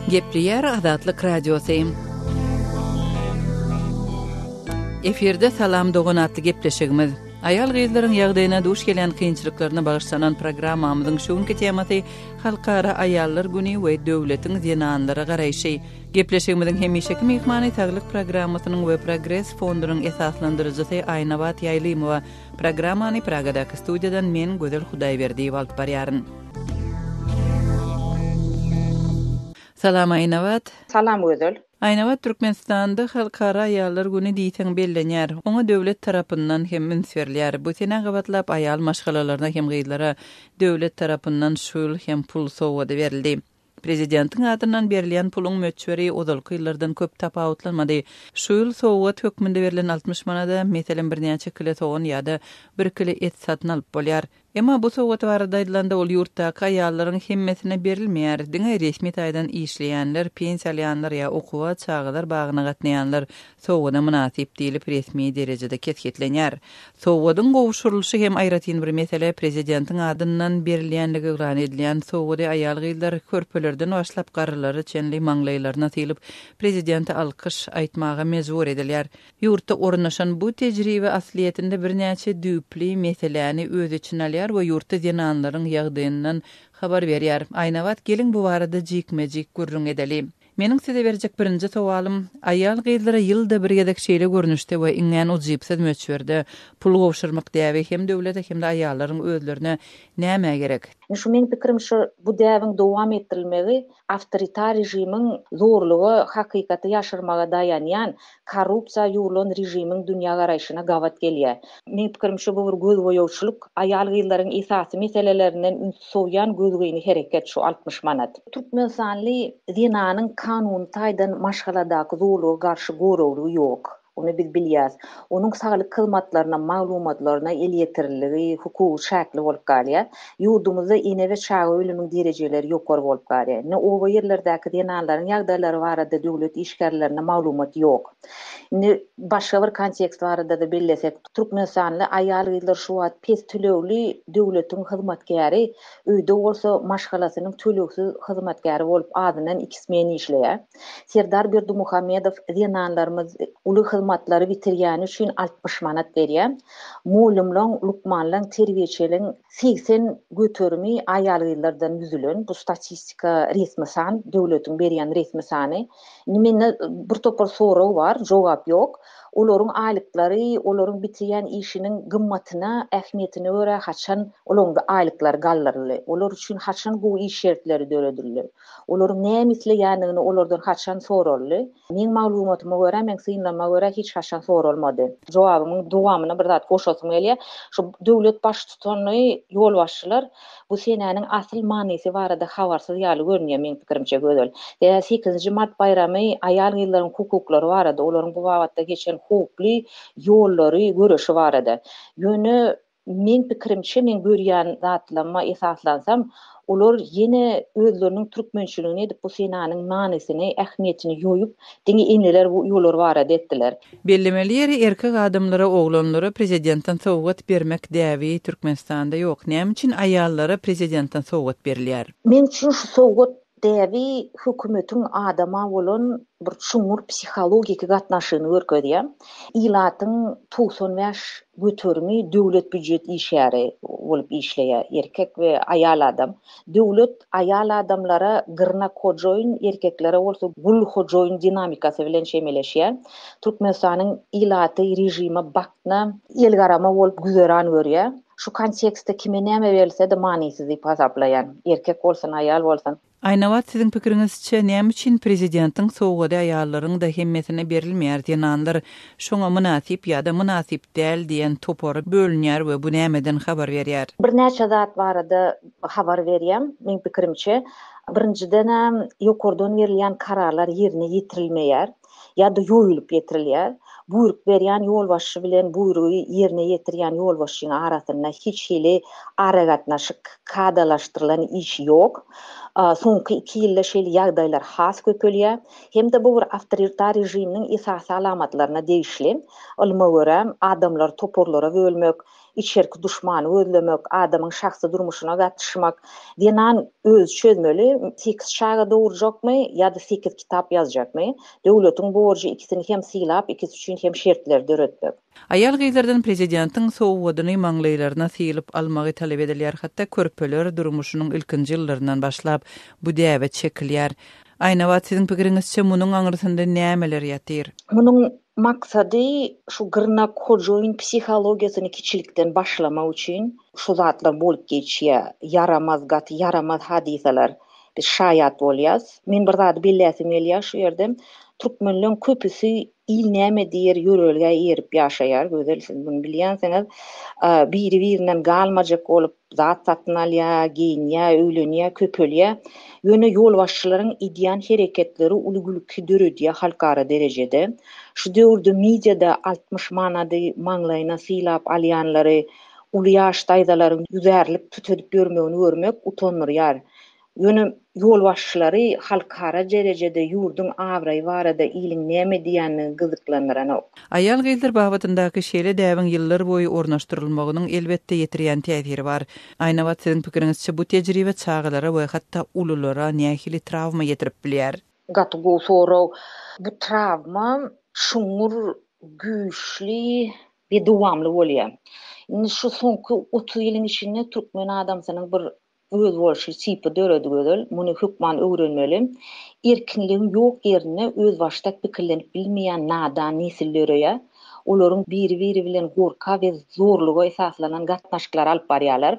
Gepleýär Azatlyk Radiosy. Efirde Salam dogan atly gepleşigimiz. Aýal-gyzlaryň ýagdaýyna duş gelýän kynçylyklaryna bagyşlanan programmamyzyň şu günki temasy Halkara aýallar güni we döwletiň zenanlara garaýşy. Gepleşigimiziň hemişeki myhmany Saglyk programmasynyň we Progres fondunyň esaslandyryjysy Aýnabat Ýaýlymowa. Programmany Pragadaky studiýadan men Gözel Hudaýberdiýewa alyp barýaryn. Salam Aýnabat. Salam Gözel. Aýnabat, Türkmenistanda Halkara aýallar güni diýseň bellenýär. Oňa döwlet tarapyndan hem üns berilýär. Bu senä gabatlap aýal maşgalalaryna hem gyzlara döwlet tarapyndan şu ýyl hem pul sowgady berildi. Prezidentiň adyndan berilýän puluň möçberi ozalky ýyllardan köp tapawutlanmady. Şu ýyl sowgat hökmünde berlen altmyş manada, meselem, birnäçe kile sogan ýa-da bir kile et satyn alyp bolýar. Emma bu sowgat barada aýdylanda, ol ýurtdaky aýallaryň hemmesine berilmeýär. Diňe resmi taýdan işleýänler, pensiýa alýanlar ýa okuwa, çagalar bagyna gatnaýanlar, sowgada mynasyp diýlip resmi derejede kesgitlenýär. Sowgadyň gowşurylyşy hem aýratyn bir mesele, prezidentiň adyndan berilýänligi yglan edilýän sowgady aýal-gyzlar körpelerden başlap garrylara çenli maňlaýlaryna sylyp, prezidente alkyş aýtmaga mejbur edilýär. Ýurtda ornaşan bu tejribe aslyýetinde birnäçe düýpli meseläni öz içine alýar we ýurtda zenanlaryň ýagdaýyndan habar berýär. Aýnabat gelin bu barada jikme-jik gürrüň edeli. Meniň size berjek birinji sowalym, aýal-gyzlara ýylda bir gezek şeýle görnüşde we iňňän ujypsyz möçberde pul gowşurmak däbi hem döwlete hem-de aýallaryň özlerine nämä gerek? Indi şu meniň pikirim şu bu däbiň dowam etdirilmegi awtoritar režimiň zorluga, hakykaty ýaşyrmaga daýanýan Korrupsiýa ýugrulan režimiň dünýägaraýşyna gabat gelýär. Meň pikirim şu bu bir gözboýagçylyk, aýal-gyzlaryň esasy meselelerinden ünsi sowýan gözgyny hereket şu altmyş manat. Türkmenistanly zenanyň kanuny taýdan maşgaladaky zolaga garşy goraglygy ýok. Ony biz bilýäs. Onuň saglyk hyzmatlaryna, maglumatlaryna elýeterliligi, hukugy çäkli bolup galýar. Ýurdumyzda ene we çaga ölümiň derejeleri ýokary bolup galýar. Indi oba ýerlerdäki zenanlaryň ýagdaýlary barada döwlet işgärlerinde maglumat ýok. Indi başga bir kontekst barada-da bellesek, türkmenistanly aýal-gyzlar şu wagt pes tölegli döwletiň hyzmatkäri, öýde bolsa maşgalasynyň tölegsiz hyzmatkäri bolup azyndan iki smena işleýär. Serdar Berdimuhamedow zenanlarymyz uly hyzmatlary bitirýäni üçin altmyş manat berýär. Mugallymlaň, lukmanlaň, terbiýeçiliň segsen göterimi aýal-gyzlardan düzülen. Bu statistika resmi san, döwletiň berýän resmi sany. Indi mende bir topar sorag bar, jogap ýok. Olaryň aýlyklary olaryň bitirýän işiniň gymmatyna, ähmiýetine görä haçan olaryň aýlyklary galdyryldy? Olar üçin haçan gowy iş şertleri döredildi? Olaryň näme isleýändigini olardan haçan soraldy? Meň maglumatyma görä, meň synlanyma görä hiç haçan soralmady. Jogabymyň dowamyna bir zat goşasym gelýär. Şu döwlet baştutany, ýolbaşçylar bu senäniň asyl manysy barada habarsyz ýaly görünýär meň pikirimçe Gözel. Sebäbi sekizinji mart baýramy aýal-gyzlaryň hukuklary barada, olaryň bu babatda geçen howply ýollary, göreşi barada. Ýöne Meň pikirimçe, meň görýän zatlaryma esaslansam, olar ýene özleriniň türkmençiligini edip, bu senanyň manysyny, ähmiýetini ýoýup, diňe eneler we uýalar barada etdiler. Bellemeli ýeri, erkek adamlara, oglanlara prezidentden sowgat bermek däbi Türkmenistanda ýok. Näme üçin aýallara prezidentden sowgat berilýär? Meň üçin şu sowgat Däbi hökümetiň adama bolan bir çuňňur psihologiki gatnaşygyny görkezýär. Ilatyň togsan bäş göterimi döwlet býujet işgäri bolup işleýär, erkek we aýal adam. Döwlet aýal adamlara gyrnak hojoýyn, erkeklere bolsa gul hojoýyn dinamikasy bilen çemeleşýär. Türkmenistanyň ilaty režime bakna, elgarama bolup güzeran görýär. Şu kontekstde kime näme berilse-de manysyz diýip hasaplaýan. Erkek bolsun, aýal bolsun. Aýnabat siziň pikiriňizçe näme üçin prezidentiň sowgady aýallaryňda hemmesine berilmeýär zenanlar şoňa mynasyp ýada mynasyp däl diýen topara bölünýär we bu nämeden habar berýär. Birnäçe zat barada habar berýän meň pikirimçe birinjidenem ýokardan berilýän kararlar ýerine ýetirilmeýär. ýa-da ýoýulyp ýetirilýär. Buýruk berýän ýolbaşçy bilen buýrugy ýerine ýetirýän ýolbaşçyň arasynda hiç hili aragatnaşyk, kadalaşdyrylan iş ýok. Soňky iki ýylda şeýle ýagdaýlar has köpelýär. Hem-de bu bir awtoritar režiminiň esasy alamatlaryna degişli. Ylma görä, adamlary toparlara bölmek, içerki duşmany gözlemek, adamyň şahsy durmuşyna gatyşmak, zenan özi çözmeli, sekiz çaga dogurjakmy ýa-da sekiz kitap ýazjakmy, döwletiň borjy ikisini hem sylap, ikisi üçin hem şertleri döretmek. Aýal-gyzlardan prezidentiň sowgadyny maňlaýlaryna sylyp almagy talap edilýär, hatda körpeler durmuşynyň ilkinji ýyllaryndan başlap bu däbe çekilýär. Aýnabat siziň pikiriňizçe munuň aňyrsynda nämeler ýatyr? Munuň Maksady şu gyrnak hojoýyn psihologiýasyny kiçilikden başlamak üçin şu zatlar bolup geçýär. Ýaramaz, gaty ýaramaz hadysalar biz şaýat bolýas. Men bir zady belläsim gelýär şu ýerde. Türkmenleň köpüsi il näme diýer ýörelgä eýerip ýaşaýar. Gözel siz muny bilýänsiňiz. Biri birinden galmajak bolup Zat satyn alýar, geýinýär, öýlenýär, köpelýär. Ýöne ýolbaşçylaryň edýän hereketleri uly gülki döredýär halkara derejede. Şu döwürde mediada altmyş manady maňlaýyna sylap alýanlary, uly ýaş daýzalaryň ýüzärlik tut edip ýörmegini görmek utandyrýar. Ýöne ýolbaşçylary halkara derejede ýurduň abraýy barada iliň näme diýýänligi gyzyklandyranok. Aýal-gyzlar babatyndaky şeýle däbiň ýyllarboýy ornaşdyrylmagynyň, elbetde, ýetirýän täsiri bar. Aýnabat, siziň pikiriňizçe, bu tejribe çagalara we hatda ululara nähili trawma ýetirip bilýär? Gaty gowy sorag. Bu trawma çuňňur, güýçli we dowamly bolýar. Indi şu soňky otuz ýylyň içinde türkmen adamsynyň bir Özboluşly çipy döredi gözel, muny hökman öwrenmeli. Erkinligiň ýok ýerinde özbaşdak pikirlenip bilmeýän nadan nesil döreýär. Olaryň biri-biri bilen gorka we zorluga esaslanan gatnaşyklary alyp barýarlar.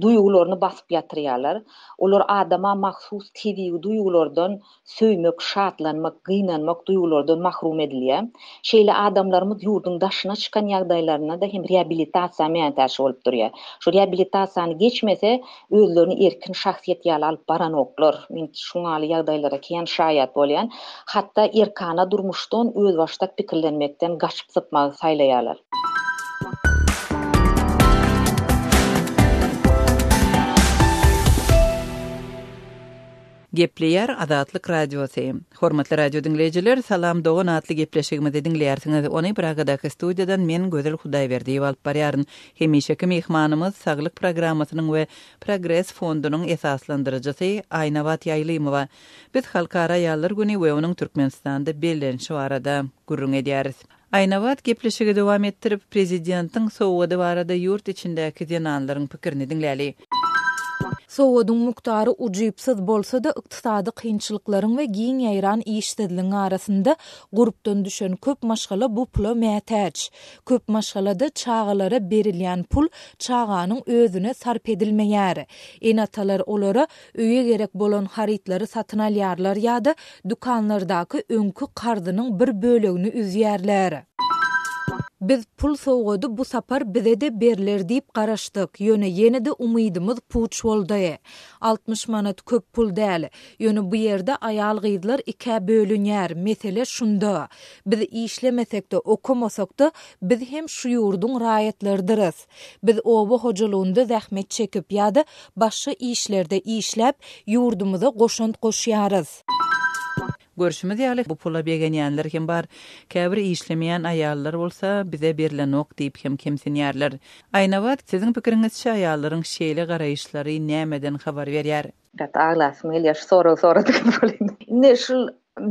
Duýgularyny basyp ýatyrýarlar. Olar adama mahsus tebigy duýgulardan Söýmek, şatlanmak, gynanmak duýgulardan mahrum edilýär. Şeýle adamlarymyz ýurduň daşyna çykan ýagdaýlarynda-da hem reabilitasiýa mätäç bolup durýar. Şu reabilitasiýany geçmese, özlerini erkin şahsyýet ýaly alyp baranoklar. Men şuňaly ýagdaýlara kän şaýat bolýan. Hatda erkana durmuşdan, özbaşdak pikirlenmekden gaçyp-sypmagy saýlaýarlar. Gepleýär Azatlyk Radiosy. Hormatly radio diňleýjiler, Salam dogan atly gepleşigimizi diňleýärsiňiz. Ony Pragadaky studiýadan men Gözel Hudaýberdiýewa alyp barýaryn. Hemişeki myhmanymyz, Saglyk programmasynyň we Progres fondunyň esaslandyryjysy Aýnabat Ýaýlymowa. Biz Halkara aýallar güni we onuň Türkmenistanda bellenişi barada gürrüň edýäris. Aýnabat gepleşigi dowam etdirip, prezidentiň sowgady barada ýurt içindäki zenanlaryň pikirini diňläli. Sowgadyň mukdary ujypsyz bolsa-da, ykdysady kynçylyklaryň we giň ýaýran işsizligiň arasynda gurpdan düşen köp maşgala bu pula mätäç. Köp maşgalada çagalara berilýän pul çaganyň özüne sarp edilmeýär. Ene-atalar olara Öýe gerek bolan harytlary satyn alýarlar ýa-da dükanlardaky öňki karzynyň bir bölegini üzýärler. Biz pul sowgady bu sapar bize-de berler diýip garaşdyk, ýöne ýene-de umydymyz puç boldy. Altmyş manat köp pul däl. Ýöne bu ýerde aýal-gyzlar ikä bölünýär, mesele şunda. Biz işlemesek-de, okamasak-da, biz hem şu ýurduň raýatlarydyrys. Biz oba hojalygynda zähmet çekip ýa-da başga işlerde işläp, ýurdumyza goşant goşýarys. Görşümiz ýaly, bu pula begenýänler hem bar. Käbir işlemeýän aýallar bolsa, bize berlenok diýip hem kemsinýärler. Aýnabat, siziň pikiriňizçe aýallaryň şeýle garaýyşlary nämeden habar berýär? Gaty aglasym gelýär şu soragy soradygyma welin. Indi şul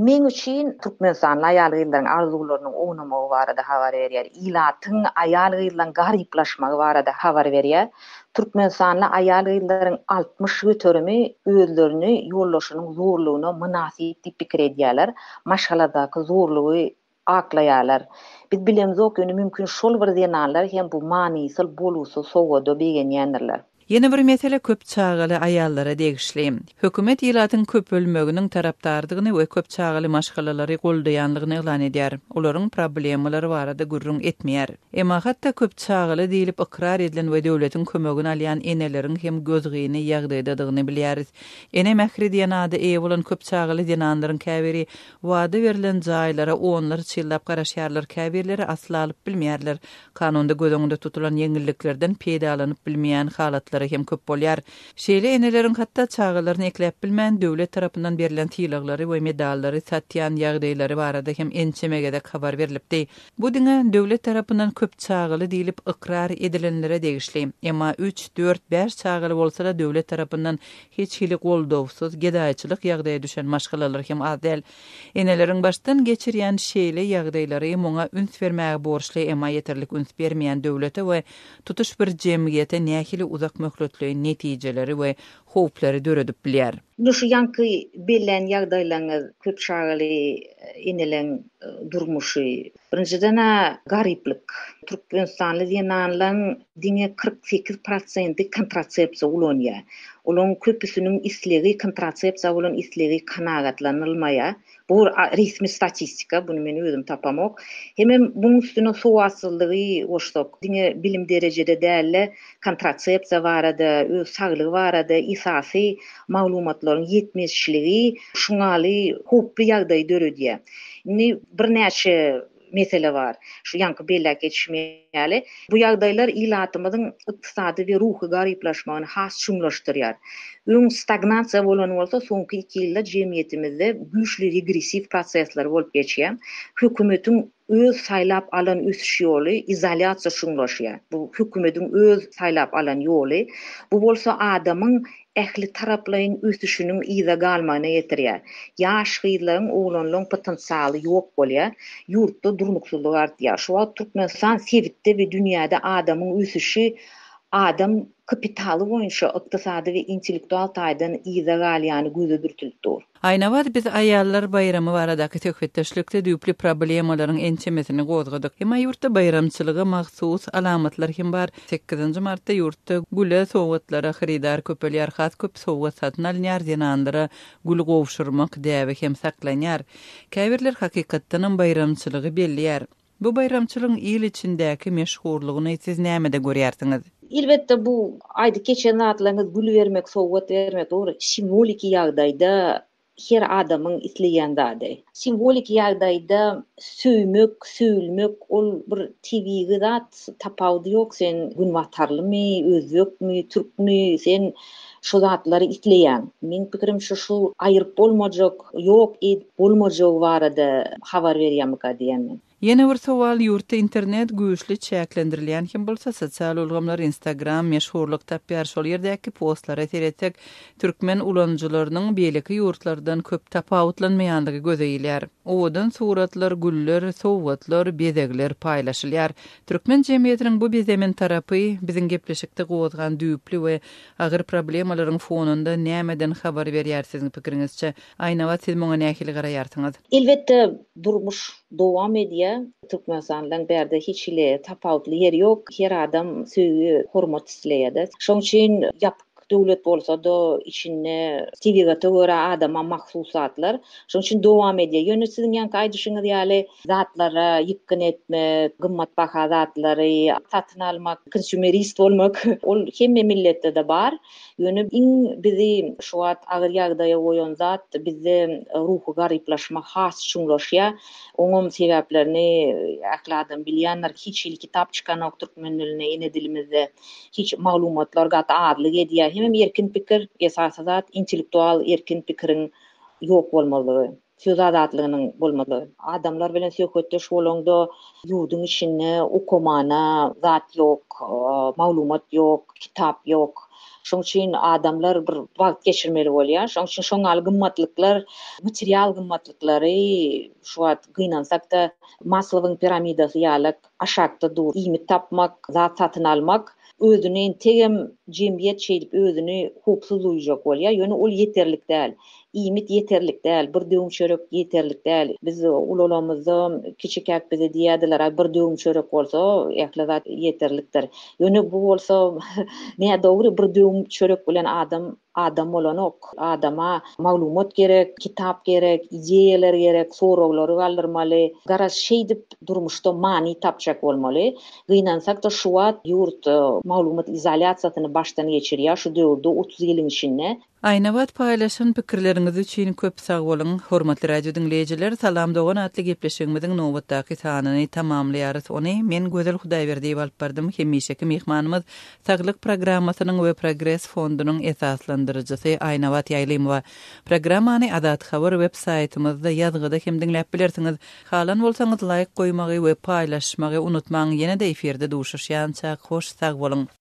meň üçin türkmenistanly aýal-gyzlaryň arzuwlarynyň ownamagy barada habar berýär, ilatyň aýal-gyzlaryň garyplaşmagy barada habar berýär. Türkmenistanly aýal-gyzlaryň altmyş göterimi özlerini ýoldaşynyň zorlugyna mynasyp diýip pikir edýärler, maşgaladaky zorlugy aklaýarlar. Biz bilemizok, ýöne mümkin şol bir zenanlar hem bu manysyz, bolgusyz sowgada begenýändirler. Ýene bir mesele köp çagaly aýallara degişli. Hökümet ilatyň köpelmeginiň tarapdardygyny we köp çagaly maşgalalary goldaýanlygyny yglan edýär. Olaryň problemalary barada gürrüň etmeýär. Emma hatda köp çagaly diýlip ykrar edilen we döwletiň kömegini alýan eneleriň hem gözgyny ýagdaýdadygyny bilýäris. Ene mähri diýen ada eýe bolan köp çagaly zenanlaryň käbiri Wada berlen jaýlara onlarça ýyllap garaşýarlar, käbirleri asla alyp bilmeýärler. Kanunda göz öňünde tutulan ýeňilliklerden peýdalanyp bilmeýän halatlary hem köp bolýar. Şeýle eneleriň hatda çagalaryny ekläp bilmän, döwlet tarapyndan berlen sylaglary we medallary satýan ýagdaýlary barada hem ençeme gezek habar berlipdi. Bu diňe döwlet tarapyndan köp çagaly diýlip ykrar edilenlere degişli. Emma üç, dört, bäş çagaly bolsa-da döwlet tarapyndan Hiç hili goldawsyz, gedaýçylyk ýagdaýa düşen maşgalalar hem az däl. Eneleriň başdan geçirýän şeýle ýagdaýlary muňa üns bermäge borçly, emma ýeterlik üns bermeýän döwlete we tutuş bir jemgyýete nähili uzak möhletleýin netijeleri we howplary döredip bilýär? Indi şu ýaňky bellän ýagdaýlaryňyz köp çagaly eneleriň durmuşy, Birinjiden-ä garyplyk. Türkmenistanly zenanlaryň diňe kyrk sekiz prosenti kontrasepsiýa ulanýar. Olaryň köpüsiniň islegi, kontrasepsiýa bolan islegi kanagatlanylmaýar. Bu resmi statistika, buny men özüm tapamok. Hemem muň üstüne sowatsyzlygy goşsak, diňe bilim derejede däl-de, kontrasepsiýa barada, öz saglygy barada esasy maglumatlaryň ýetmezçiligi şuňaly howply ýagdaýy döredýär. Indi birnäçe mesele bar. Şu ýaňky belläp geçişim ýaly, bu ýagdaýlar ilatymyzyň ykdysady we ruhy garyplaşmagyny has çuňlaşdyrýar. Öň stagnasiýa bolan bolsa, soňky iki ýylda jemgyýetimizde güýçli regressiw prosesler bolup geçýär. Hökümetiň Öz saýlap alan ösüş ýoly izolýasiýa şuňlaşýar. Bu hökümediň öz saýlap alan ýoly. Bu bolsa adamyň ähli taraplaýyn ösüşiniň yza galmagyna getirýär. Ýaş gyzlaryň, oglanlaryň potensialy ýok bolýar. Ýurtda durnuksyzlyk artýar. Şu wagt Türkmenistan sebitde we dünýäde adamyň ösüşi adam kapitaly boýunça ykdysady we intellektual taýdan yza galýany göze dürtülip dur. Aýnabat biz aýallar baýramy baradaky söhbetdeşlikde düýpli problemalaryň ençemesini gozgadyk. Emma ýurtda baýramçylyga mahsus alamatlar hem bar. Sekizinji martda ýurtda güle, sowgatlara hyrydar köpelýär, has köp sowgat satyn alynýar, zenanlara gül gowşurmak däbi hem saklanýar. Käbirler hakykatdanam baýramçylygy belleýär. Bu baýramçylygyň il içindäki meşhurlygyny siz nämede görýärsiňiz? Elbetde bu aýdyp geçen zatlaryňyz gül bermek, sowgat bermek dogry simwoliki ýagdaýda her adamyň isleýän zady. Simwoliki ýagdaýda söýmek, söýülmek ol bir tebigy zat, tapawudy ýok sen günbatarlymy, özbekmi, türkmi, sen Şu zatlary isleýän. Meň pikirim şu şu aýyryp bolmajak, ýok edip bolmajagy barada habar berýärmika diýýän men. Ýene bir sowal ýurtda internet güýçli çäklendirilýän hem bolsa sosial ulgamlar instagram meşhurlyk tapýar şol ýerdäki postlara seretsek türkmen ulanyjylarynyň beýleki ýurtlardan köp tapawutlanmaýanlygy göze ilýär. Owadan suratlar güller, sowgatlar, bezegler paýlaşylýar. Türkmen jemgyýetiniň bu bizemen tarapy, biziň gepleşikde gozgan düýpli we agyr problemalaryň fonunda nämeden habar berýär siziň pikiriňizçe? Aýnabat siz muňa nähili garaýarsyňyz? Elbetde durmuş dowam edýär. Türkmenistandan bärde hiç hili tapawutly ýeri ýok. Her adam söýgi, hormat isleýärdi. Şoň üçin ýapyk Döwlet bolsa-da içinde tebigata görä adama mahsus zatlar. Şonuň üçin dowam edýär. Ýöne siziň ýaňky aýdyşyňyz ýaly zatlara ýykgyn etmek, gymmatbaha zatlary satyn almak, konsumerist bolmak ol hemme milletde-de bar. Ýöne iň bizi şu wagt agyr ýagdaýa goýan zat bizde ruhy garyplaşma has çuňlaşýar. Oňam sebäplerini ähli adam bilýändir. Hiç hili kitap çykanok türkmen dilinde, ene dilimizde. Hiç maglumatlar gaty azlyk edýär. Hemem erkin pikir, esasy zat intellektual erkin pikiriň ýok bolmazlygy, söz azatlygynyň bolmazlygy. Adamlar bilen söhbetdeş bolaňda ýurduň içinde okamana zat ýok, maglumat ýok, kitap ýok. Şoň üçin adamlar bir wagt geçirmeli bolýar. Şoň üçin şoň ýaly gymmatlyklar, material gymmatlyklary şu wagt gynansakda Maslowyň piramidasy ýalak Aşakda dur, iýmit tapmak, zat satyn almak, özüni entegem jemgyýet şeýdip özüni howpsuz duýjak bolýar, ýöne ol ýeterlik däl. Iýmit ýeterlik däl, bir döwüm çörek ýeterlik däl. Biz ulalamyzda kiçikäk bize diýerdiler, aý bir döwüm çörek bolsa ähli zat ýeterlikdir. Ýöne bu bolsa nädogry, bir döwüm çörek bilen adam Adam bolanok. Adama maglumat gerek, kitap gerek, ideýalar gerek, soraglary galdyrmaly. Garaz, şeýdip durmuşda many tapjak bolmaly. Gynansak-da, şu wagt ýurt maglumat izolýasiýasyny başdan geçirýär, şu döwürde otuz ýylyň içinde. Aýnabat paýlaşan pikirleriňiz üçin köp sag boluň! Hormatly radio diňleýjiler, Salam dogan atly gepleşigimiziň nobatdaky sanyny tamamlaýarys. Ony men Gözel Hudaýberdiýewa alyp bardym. Hemişeki myhmanymyz Saglyk programmasynyň we Progres fondunyň esaslandyryjysy Aýnabat Ýaýlymowa. Programmany Azat Haber web saýtymyzda ýazgyda hem diňläp bilersiňiz. Halan bolsaňyz laýk goýmagy we paýlaşmagy unutmaň ýene-de efirde duşuşýançak hoş sag boluň.